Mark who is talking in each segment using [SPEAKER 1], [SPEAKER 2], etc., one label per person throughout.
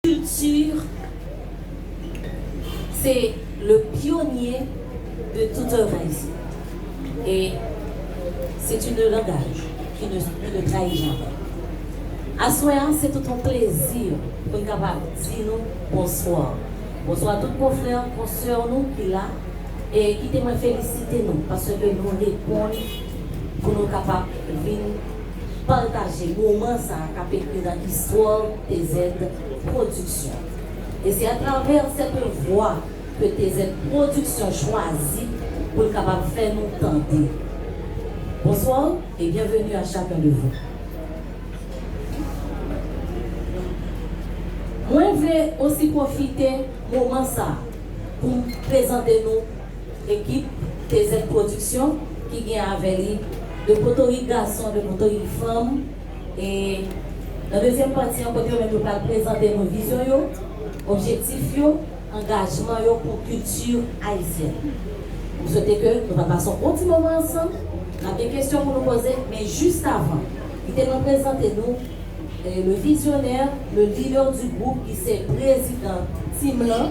[SPEAKER 1] Culture se le pionnier de tout un haitien et c'est une langage qui ne qui ne trahi jamais. Aswè a se tout on plezi pou n kapab di nou bonswa. Bonswa tout konfrè, konsè nou ki la e kite mwen felisite nou paske nou reponn pou nou kapab vin pataje moman sa a k ap ekri nan istwa w TZ Production. E se atravè sèten vwa ke TZ Production chwazi pou l kapab fè nou tande. Bonsoir et bienvenue à chacun de vous. Mwen vle osi pwofite moman sa a pou m prezante nou. Ekip TZ Production ki gen avè li 2 potorik gason, 2 potorik fanm e nan dezyèm pati an kote yo menm yo pral prezante nou vizyon yo, objektif yo, angajman yo pou kilti ayisyèn. M swete ke nou pral pase yon bon ti moman ansanm. N ap gen kesyon pou nou poze men jis avan li te mwen prezante nou le vizyonè, le leader du groupe ki se prezidan team lan.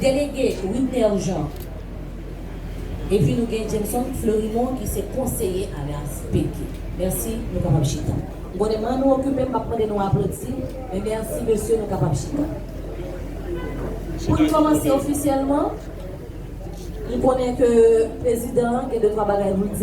[SPEAKER 1] Delege Wibner Jean epi nou gen Jameson Fleurimond ki se konseye a la Speke. Mèsi, nou kapab chita. M konnen m'en nou okipe, m pap mande nou aplodi, men mèsi mesye nou kapab chita. Pou n kòmanse ofisyèlman, m konnen ke prezidan an gen de twa bagay pou l di.